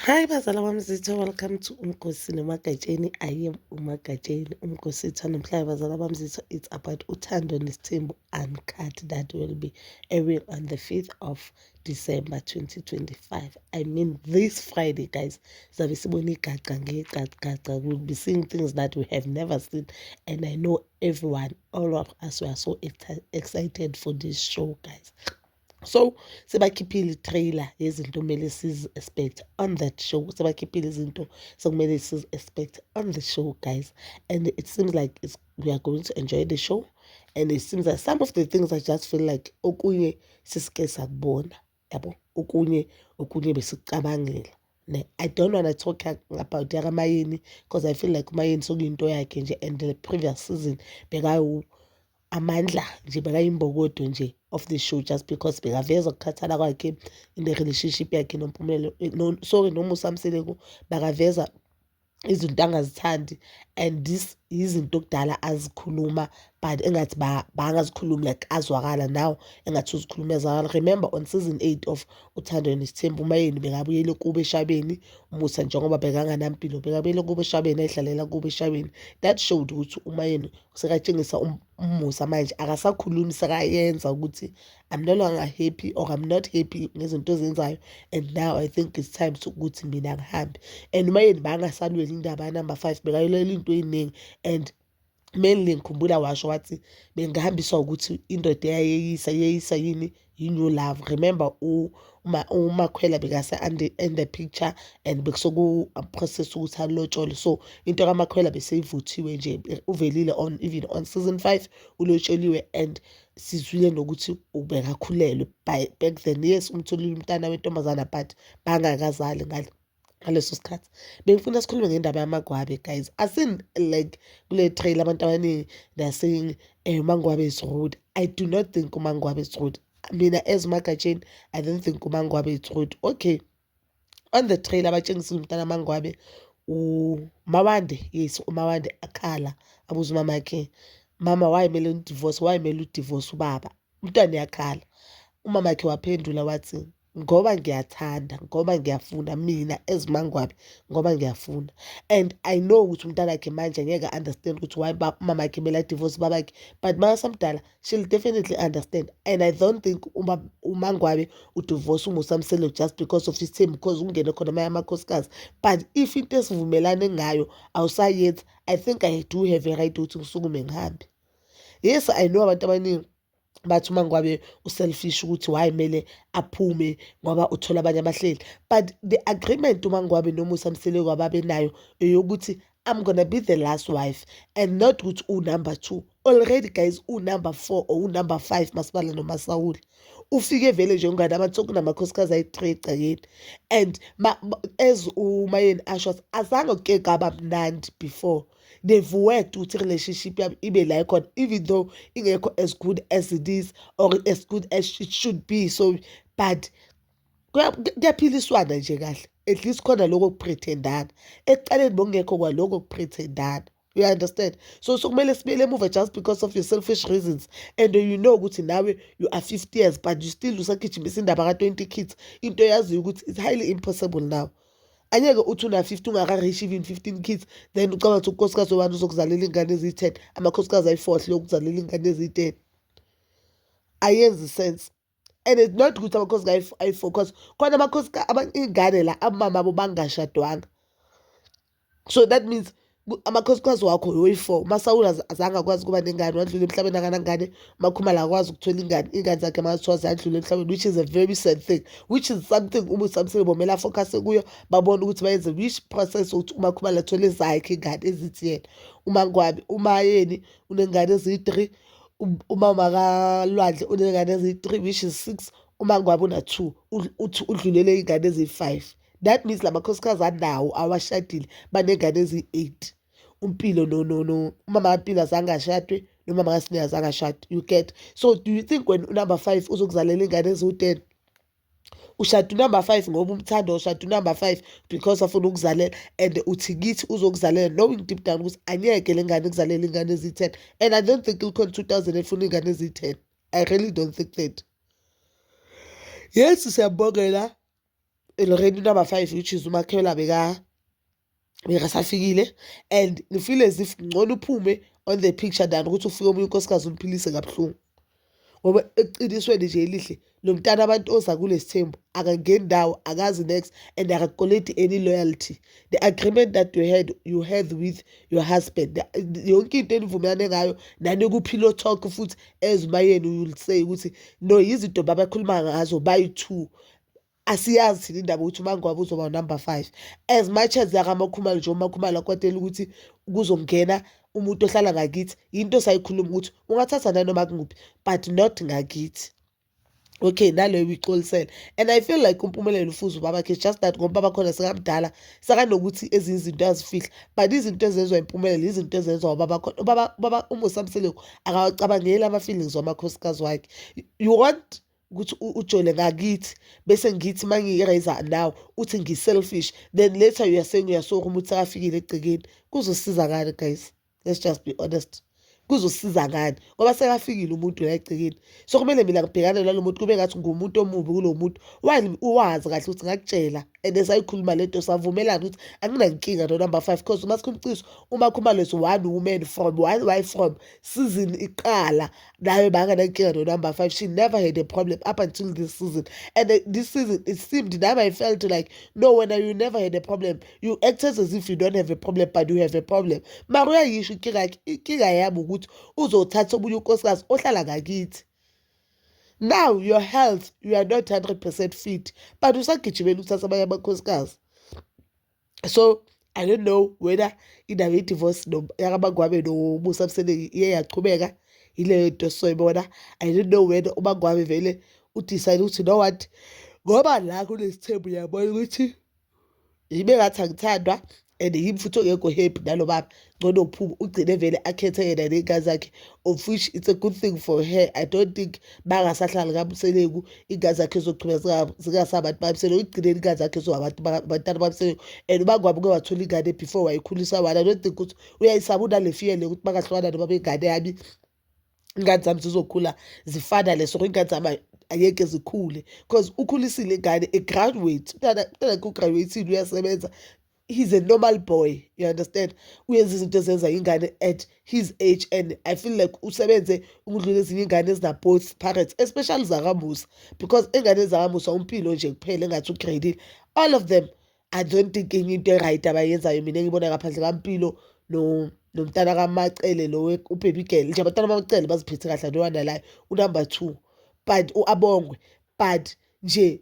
Hi bazala wami zitho welcome to umgosi nomagatsheni I am umagatsheni umgosi itha namhlanje bazala bami zitho it's about uthando nesithembu uncut that will be airing on the 5th of December 2025 I mean this Friday guys sabe sibona igaca ngegacagaca we'll be seeing things that we have never seen and I know everyone all of us were so excited for this show guys so sebakhiphile i-trailer yezinto kumele sizi-expect on that show sebakhiphile izinto sekumele sizi-expect on the show guys and it seems like it's, we are going to enjoy the show and it seems like some of the things i just feel like okunye sisike sakubona yabo okunye okunye besicabangela ne i don't wanna talk about yakamayeni because i feel like umayeni sokuyinto yakhe nje and the previous season bekawu amandla nje bekayimbokodo nje of the show just because bekaveza ukukhathala kwakhe in the relationship yakhe nompumelelo eh, no, sorry nomusa mseleku bakaveza izinto angazithandi and this yizinto okudala azikhuluma but engathi bangazikhulumi like azwakala now engathi uzikhuluma ezwakala remember on season 8 of uthando nesithembu umayeni bekabuyele kubo eshabeni umusa njengoba bekanganampilo bekabuyele kubo eshabeni ayidlalela kubo eshabeni that showed ukuthi umayeni sekatshengisa um, umusa manje akasakhulumi sekayenza ukuthi i'm no longer happy or i'm not happy ngezinto ezenzayo and now i think it's time sokuthi mina ngihambe and uma yeni bangasalweli indaba yanumber five bekayolela into eyiningi and mainly ngikhumbula washo wathi bengihambiswa ukuthi indoda eyayeyisa yeyisa yini you new love remember umakhwela bekase in the picture and bekusokuprocess uh, ukuthi alotshole so into kamakhwela beseyivuthiwe nje uvelile on even on season five ulotsholiwe and sizwile nokuthi ubekakhulelwe by back then yes umtholile umntana wentombazana but bangakazali ngale ngaleso sikhathi bengifuna sikhulume ngendaba yamagwabe guys asin like kule trail abantu abaningi they are saying eh, umangwabe is rude i do not think umangwabe is rude mina as umagatsheni i don't think umangwabe is rude okay on the trail abatshengisile umntana amangwabe umawande yes umawande akhala abuza umama yakhe mama wayemele udivorce wayemele udivorce ubaba umntwana uyakhala umama wakhe waphendula wathi ngoba ngiyathanda ngoba ngiyafuna mina as mangwabe ngoba ngiyafuna and i know ukuthi umntanakhe manje ngeke understand ukuthi why mamakhe mele adivorce babakhe but makasamdala she'll definitely understand and i don't think umangwabe udivorce umusa mselo just because of isithembu because ungene khona amanye amakhosikazi but if into esivumelane ngayo awusayenzi i think i do have a right ukuthi ngisukume ngihambe yes i know abantu abaningi bathi uma ngikwabe uselfish ukuthi why kumele aphume ngoba uthola abanye abahleli but the agreement uma ngikwabe nomusa mseleku ababenayo eyokuthi i'm gonna be the last wife and not ukuthi unumber two already guys unumber four or unumber five masibala nomasawula ufike vele nje ungane abantu sokunamakhosikazi ayi-three egcekeni and as umayeni asho azange kuke kaba mnandi before they've worked ukuthi relationship yabo ibe la ikhona even though ingekho as good as it is or as good as it should be so but kuyaphiliswana nje kahle at least khona lokho kuprethendana ekuqaleni bokungekho kwalokho kuprethendana you understand so sokumele sibuyele emuva just because of your selfish reasons and you know ukuthi nawe you are 50 years but you still usagijimisa indaba ka-20 kids into yaziyo ukuthi it's highly impossible now Anyeke uthi una 50 ungaka reach even 15 kids then ucabanga ukuthi unkosikazi wobani uzokuzalela ingane eziyi 10 amakhosikazi ayi 4 ahluleka ukuzalela ingane eziyi 10 ayenzi sense and it's not ukuthi amakhosi ayi 4 cause khona amakhosi ingane la abamama abo bangashadwanga so that means amakhosikazi wakho oyi-four umasawula azange akwazi ukuba nengane wadlula emhlabeni akanangane umakhumala akwazi ukuthola ingane iy'ngane zakhe makathiwa ziyadlula emhlabeni which is a very sad thing which is something umusamisile bomele afocuse kuyo babone ukuthi bayenze which process ukuthi umakhumala athole zakhe ingane ezithi yena uma ngwabi uma yeni unengane eziyi-three uma makalwandle unengane eziyi-three which is six uma ngwabi una-two uthi udlulele iy'ngane eziyi-five that means la makhosikazi anawo awashadile banengane eziyi-eight umpilo no no no umama kampilo azange ashadwe nomama kasine azange ashade you get so do you think wena unumber five uzokuzalela iy'ngane eziwu-ten ushada unumber five ngoba umthanda ushada unumber five because afuna ukuzalela and uthi kithi uzokuzalela knowing deep down ukuthi angeke le ngane kuzalela iy'ngane eziyi-ten and i don't think ikhona two thousand efuna iy'ngane eziyi-ten i really don't think that yes siyabongela eloreni number five which is umakhela beka bekasafikile and ngifile as if ngcono uphume on the picture than ukuthi ufike omunye unkosikazi umphilise kabuhlungu ngoba eqinisweni nje elihle lo mntana abantu oza kulesi thembu akangeni ndawo akazi next and akakoleti any loyalty the agreement that you had you had with your husband yonke into enivumelane ngayo nanekuphilo talk futhi ezimayeni you'll say ukuthi no yizinto babakhuluma ngazo bayi-two asiyazi thina indaba ukuthi umangoba uzoba unumber five as much as yakamakhumalo nje umakhumalo akwatela ukuthi kuzongena umuntu ohlala ngakithi yinto sayikhuluma ukuthi ungathatha nanoma kunguphi but not ngakithi okay naleyo uyixolisele and i feel like umpumelelo ufuza ubabakhe just that ngoba bakhona sekamdala sakanokuthi ezinye izinto azifihla but izinto ezenziwa impumelelo izinto ezenziwa ubabakhona ubaba umusamseleko akawacabangeli ama-feelings wamakhosikazi wakhe you want ukuthi ujole ngakithi bese ngithi uma ngiyi-raiser now uthi ngi-selfish then later you are saying uyasoka uma uthi akafikile egcekeni kuzosiza ngani guys let's just be honest kuzosiza ngani ngoba sekafikile umuntu la egcekeni so kumele mina ngibhekane nalo muntu kube ngathi ngumuntu omubi kulo muntu wani uwazi kahle ukuthi ngakutshela and esayikhuluma le nto savumelana ukuthi anginankinga no number five because uma sikhumciso uma khumalosi one woman from one wife from season iqala nayo banganankinga no-number five she never had a problem up until this season and the, this season it seemed now i felt like no wena you never had a problem you acted as if you don't have a problem but you have a problem mara uyayisho inkinga yakhe inkinga yami ukuthi uzothatha omunye unkosikazi ohlala ngakithi now your health you are not 100 percent fit but usagijimela ukuthatha abanye amakhosikazi so i don't know whether indaba ye-divorce yakabangwabe nomusa mseleku iye yachubeka yileyo nto soyibona i don't know whether ubangwabe vele udecide ukuthi no what ngoba la kunesithembu uyabona ukuthi yibe ngathi angithandwa and yimi futhi ongekho happy nalo baba ngcono phuma ugcine vele akhethe yena ney'ngane zakhe of which it's a good thing for her i don't think bangasahlali kamseleku iy'ngane zakhe zogcina zingasabantu bamseleku ekugcineni iy'ngane zakhe zoabantu abantwana bamseleku and uba kwabe uke wathola ingane before wayikhulisa wani i don't think ukuthi uyayisaba unale fear le ukuthi bangahlukana noma bengane yami iy'ngane zami zizokhula zifana leso iy'ngane zami angeke zikhule because ukhulisile ingane egraduate umntana umntana kugraduatile uyasebenza he's a normal boy you understand uyenza izinto ezenza ingane at his age and i feel like usebenze ukudlula ezinye ingane ezinaboth parents especially zakamusa because engane zakamusa umpilo nje kuphela engathi ugradile all of them i don't think enye into eright abayenzayo mina ngibona ngaphandle kampilo no nomntana kamacele lo ubhebhi girl nje abantwana bamacele baziphethe kahle ntowanalayo unumber two but u-abongwe but nje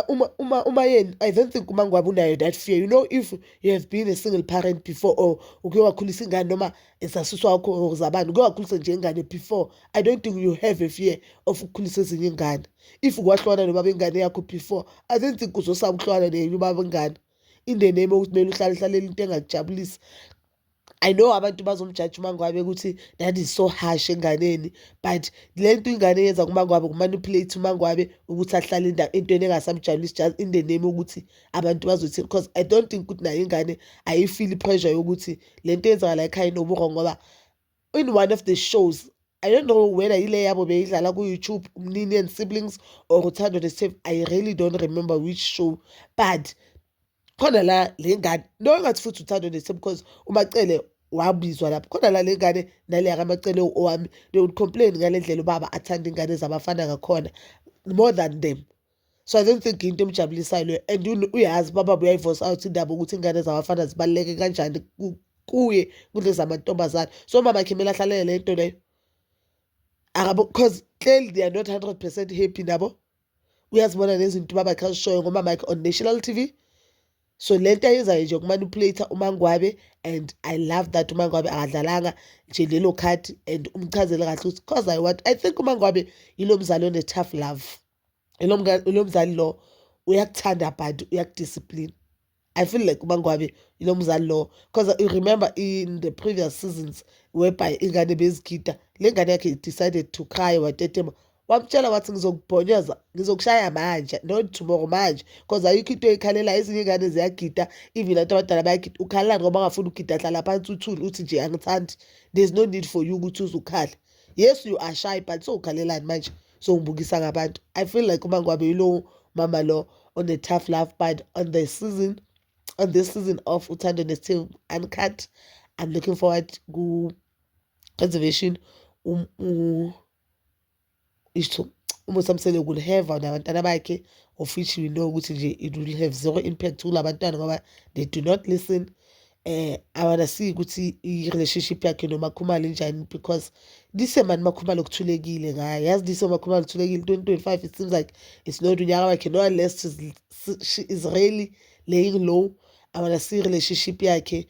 uma uma uma yena i don't think uma ngwabe unayo that fear you know if you have been a single parent before or uke wakhulisa ingane noma esasusa wakho or zabani uke wakhulisa nje ingane before i don't think you have a fear of ukukhulisa ezinye ingane if kwahlwana nobaba ingane yakho before i don't think uzosaba ukuhlwana nenye ubaba ingane in the name okuthi kumele uhlale hlalele into engakujabulisi I know abantu bazomjaji uMangwabe ukuthi that is so harsh enganeni but le nto ingane yenza kuMangwabe kumanipulate uMangwabe ukuthi ahlale entweni engasamjabulisi just in the name ukuthi abantu bazothini because I don't think ukuthi nayo ingane ayifile i-pressure yokuthi le nto yenzakala ekhaya inoburo ngoba in one of the shows I don't know whether yile yabo beyidlala ku-YouTube Mnini and Siblings or Uthando the Save I really don't remember which show but khona la le ngane no engathi futhi uthando nese because umacele wabizwa lapho khona la le ngane naleya kamacele owami they would complain ngale ndlela ubaba athanda ingane zabafana ngakhona more than them so i don't think into emjabulisayo leyo and uyazi baba uyayivosa out indaba ukuthi ingane zabafana zibaluleke kanjani kuye kunezamantombazane so mama khimela hlalele le nto leyo akabo because clearly they are not 100 percent happy nabo uyazibona nezinto ubaba xa zishoyo ngomama yakhe on national tv so le nto ayenzayo nje kumanipulate umangwabe and i love that umangwabe akadlalanga nje lelo khadi and umchazele kahle ukuthi cause i want i think umangwabe yilo mzali one-tough love ilo mzali lo uyakuthanda but uyakudiscipline I feel like uMangwabe yilo mzali lowo because you remember in the previous seasons whereby ingane bezigida le ngane yakhe decided to cry watetema wamtshela wathi ngizokubhonyoza ngizokushaya manje not tomorrow manje because ayikho into eyikhalela ezinye iy'ngane ziyagida even abantu abadala bayagida ukhalela ngoba angafuni ukugida hlala phansi uthule uthi nje angithandi there's no need for you ukuthi uze ukhale yes you are shy but sowukhalelani manje so songibukisa ngabantu i feel like umangwabe yilowo mama lo one-tough love but on the season on this season of uthando nesithembu uncut i'm looking forward ku-preservation um, um, isho umusa msele will have nabantwana bakhe of which we know ukuthi nje it will have zero impact kula bantwana ngoba they do not listen eh awanasiki ukuthi i-relationship yakhe noMakhumalo injani because lise mani Makhumalo kuthulekile ngayo yazi lise Makhumalo kuthulekile 2025 it seems like it's not unyaka wakhe no unless she's, she is really laying low awanasi relationship yakhe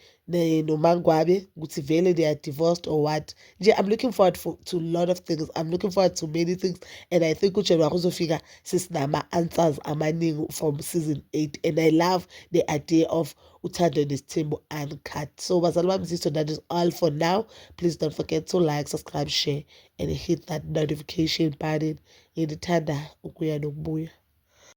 nomangwabe ukuthi vele they are divorced or what nje i'm looking forward for, to lot of things i'm looking forward to many things and i think ujanuwari uzofika sesinama-answers amaningi from season 8 and i love the idea of uthando nesithembu uncut so bazali bami ziso that is all for now please don't forget to like subscribe share and hit that notification button ngithanda ukuya nokubuya